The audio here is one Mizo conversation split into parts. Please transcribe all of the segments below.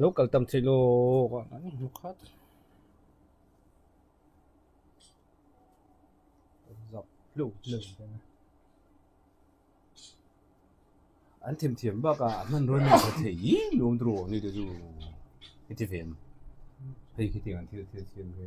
lo kal tam thei lawk a an hmu khat zauh hluk hluk an thim thiam bak a an hman rawn ni ta thei hi nuam tur awk a ni ta chu heti ve ang hei khi tiang an thil thil thiam hi.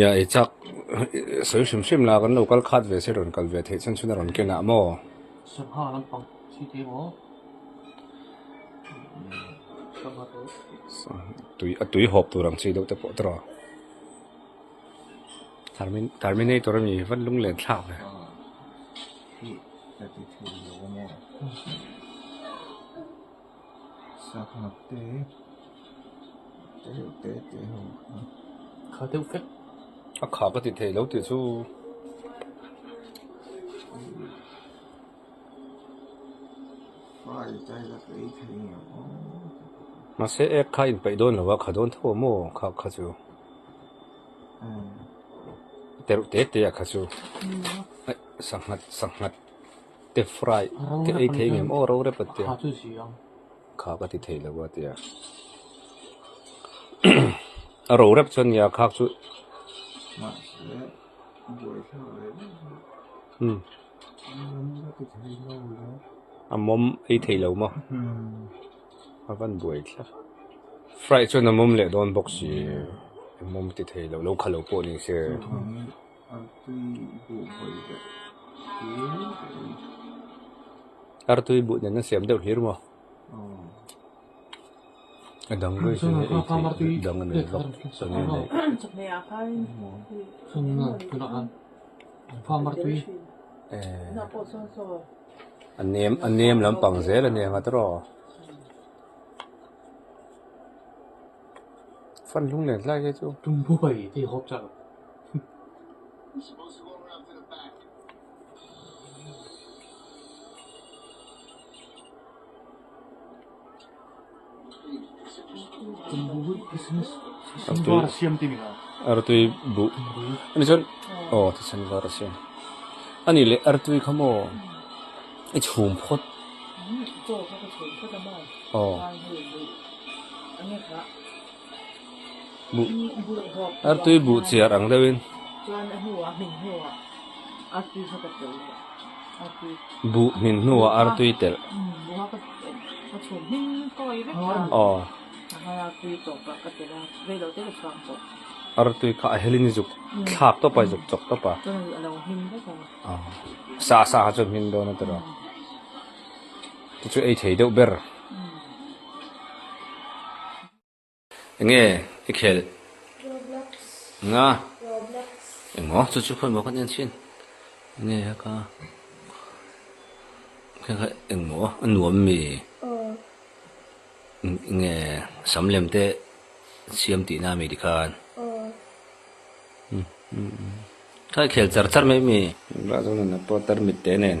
Nia ei chak, sawi hrim hrim la kan lo kal khat ve se rawn kal ve theih chhan chhun a rawn ken ah maw? Sangha lampang si te maw? Sangha te tui a tui hawp tur ang chi deuh te pawh tawrh a. Termin Terminator a ni vat lung len thlak le. Hi, thirty three lo maw? Sak ngap te te reuh te te ho kha. Kha deuh fek. A kha ka ti thei lo ti chu. Fai tai la kei thei nge o. Ma se ek kha in pai don lo a kha don tho mo kha kha chu. Te reuh te te a kha chu. Ai sak ngat sak ngat. te fry te ei thei ngam aw ro rep a tia kha ka ti thei lo a tia a ro rep chuan nia khak chu um a mawm ei thei lo maw a van buai thla fry chuan a mawm leh dawn bawk si a mawm ti thei lo lo kha lo pawh ni se. Artui buh nen a siam deuh hlir maw? A dang ruih chu hei thei dang a nei bawk a ni a ni. A nem lampang zel a ni ang a tiraw? Fan hlung nen hlai hi chu. artui buh ani chuan aw tichhan var a siam ani leh artui kha maw i chhum phawt aw. Artui buh chiar ang deuh in buh hmin hnuah artui telh aw artui kha a hel in zuk thlak tawp a zuk chawk tawp a sah sah ah chuan hmin dawn a ti lo. Te chu ei thei deuh ber. Enge i khel? Roblox. Enga? Roblox. Engawh chu chu phawimaw kan en chin. Enge a ka? Kha engmaw a nuam mi? Enge sam lem te siam tih na mi ti khan. Kha i khel char char mai mi. Engmah zâwnin a pawter mit te nen.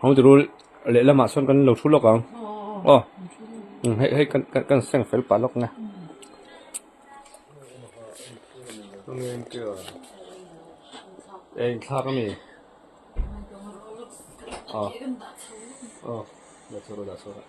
Home to rule lehlam ah chuan kan lo thu lawk ang aw hei hei kan kan kan seng fel pah lawk nge eng thlak ami aw aw dah chhuak rawh dah chhuak rawh.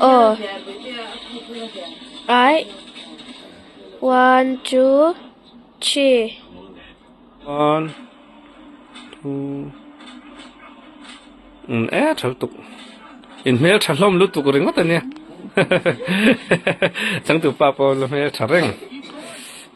Aw ai one two three one two um e thal tuk in hmel tha hlawm lu tuk ringawt ania changtu pa pawh la hmel tha reng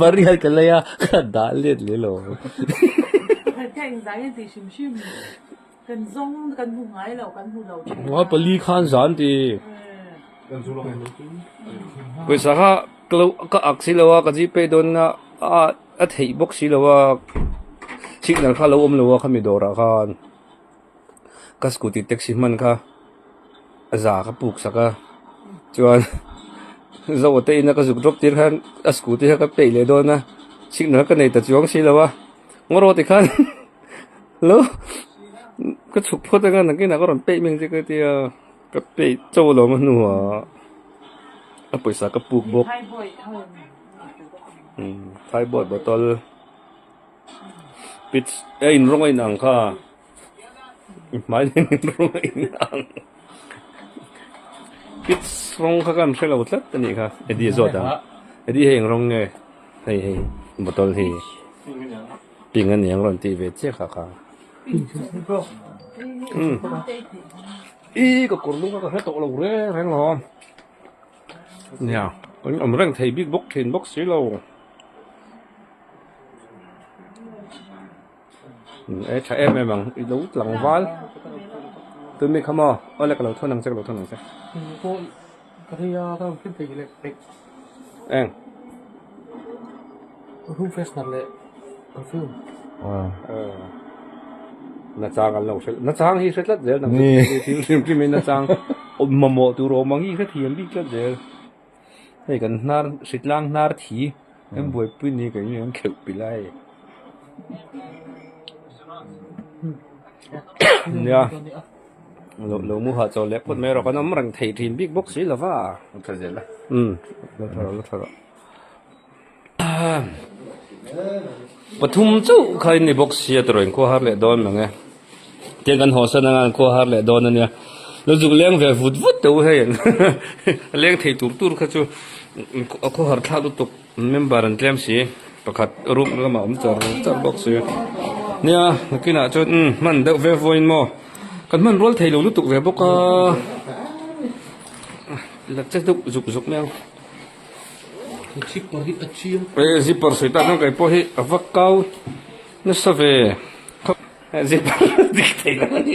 Maria ka lei a ka dah let leh lo. Ka eng zai en tih hrim hrim. Kan zawng kan hmu ngai lo kan hmu lo thin a. Pali khan zan tih. Kan zu lawm lo thin a. Pawisa kha ka ak si lo a ka G pay dawn na a theih bawk si lo a signal kha a lo awm lo a kha mi dawr ah khan. ka scooty taxi hman kha a za ka puk sak a chuan Zoho te ina ka zuk drop tir khan a scooty kha ka peih leh dawn a signal ka nei ta chuang si lo a ngaw rawh tikhan lo ka chhuk phawt a ngan ang kinah ka rawn peih meng zia ka ti a ka peih cho lawm a hnuah a pawisa ka puk bawk thaibawih bottle. pitch a in rawng a in ang kha hmaileng in rawng a in ang pitch rawng kha kan hrelo tlat a nih kha Eddie zawt ang Eddie hei eng rawng nge hei hei bottle hi pink a ni ang rawn tih ve chiah kha kha i ka kawr lung kha ka hre tawh lo reng reng lo. Nia, kan awm reng thei bik bawk thin bawk silo. E tha em em ang, i lo tlangval. Tumi kha maw? Aw le ka lo thawn ang che, ka lo thawn ang che. Tui pawh ka hria, ka lo hre thei leh thei. Eng? Perfume freshener leh perfume nachang an lo hrelh nachang hi hre tlat zel nang chu thil hlim hlim hi nachang mamawh tur awm ang hi hre thiam bik tlat zel hei kan hnar hritlang hnar thi kan buaipui ni kan inang kheuh pi lai nia lo lo mu hah chaw leh phawt mai erawh kan awm reng thei rin bik bawk si lova lo tha zel a lo tha rawh lo tha rawh. Pathum chauh kha in i boxia tawrh in khuahar leh dawn mang e. Tiang kan haw san angan khuahar leh dawn a nia. Lo zuk leng ve vut vut teh u hei an. A leng thei tur tur kha chu a khuahar thla lutuk member an tlem si. Pakhat room lamah awm char char bawk si. Nia nakinah chuan umm hman deuh ve vawi in maw. Kan hman rual thei lo lutuk ve bawk a. Hla che deuh zuk zuk mai ang. Ei zipper sawi ta chuan keipawh hi a va kau nasa ve khawp zipper dik theihloh a ni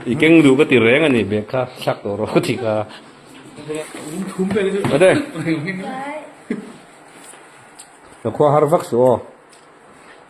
i keng duh ka ti reng a ni bag kha thlak tawh rawh ka ti kha ade ka khua har vak suh aw.